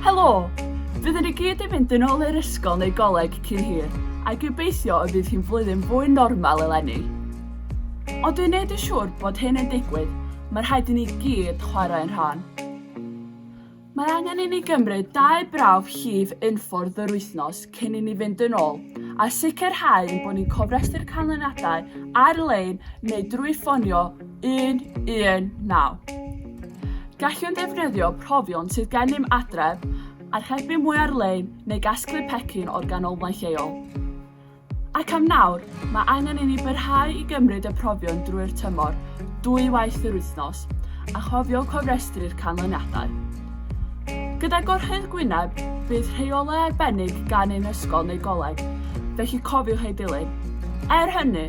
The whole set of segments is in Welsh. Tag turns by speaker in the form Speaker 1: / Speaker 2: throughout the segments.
Speaker 1: Helo! Byddwn i gyd yn mynd yn ôl i'r ysgol neu goleg cyn hir, a gobeithio y bydd hi'n flwyddyn fwy normal eleni. Ond dwi'n neud yn siŵr bod hyn yn digwydd, mae rhaid i ni gyd chwarae'n rhan. Mae angen i ni gymryd dau brawf llif unffordd yr wythnos cyn i ni fynd yn ôl, a sicrhau bod ni'n cofrestru'r canlyniadau ar-lein neu drwy ffonio 119. Gallwn ddefnyddio profion sydd gennym adref, archebu mwy ar-lein neu gasglu pecyn o'r ganolfan lleol. Ac am nawr, mae angen i ni byrhau i gymryd y profion drwy'r tymor, dwy waith yr wythnos, a chofio cofrestru'r canlyniadau. Gyda Gorchudd Gwynedd, bydd rheolau arbennig gan ein ysgol neu goleg, felly cofiwch eu dilyn. Er hynny,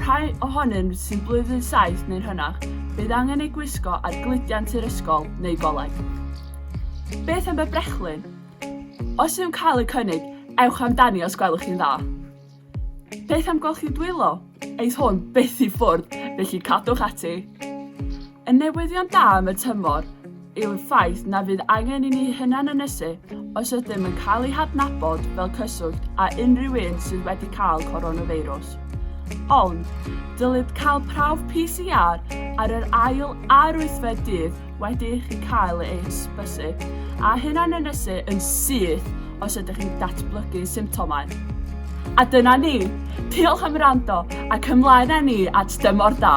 Speaker 1: rhai ohonynt sy'n blwyddyn saith neu'n hynach, bydd angen eu gwisgo ar gludiant i'r ysgol neu goleg. Beth am y brechlyn? Os yw'n cael eu cynnig, ewch amdani os gwelwch chi'n dda. Beth am golchi dwylo? Eith hwn byth i ffwrdd, felly cadwch ati. Y newyddion da am y tymor yw'r ffaith na fydd angen i ni hunan ynysu os ydym yn cael ei hadnabod fel cyswllt â unrhyw un sydd wedi cael coronafeirws. Ond, dylid cael prawf PCR ar yr ail a'r wythfed dydd wedi i chi cael eich bysu a hunanynysu yn syth os ydych chi'n datblygu symptomau. A dyna ni! Diolch am rando ac ymlaen â ni at dymor da!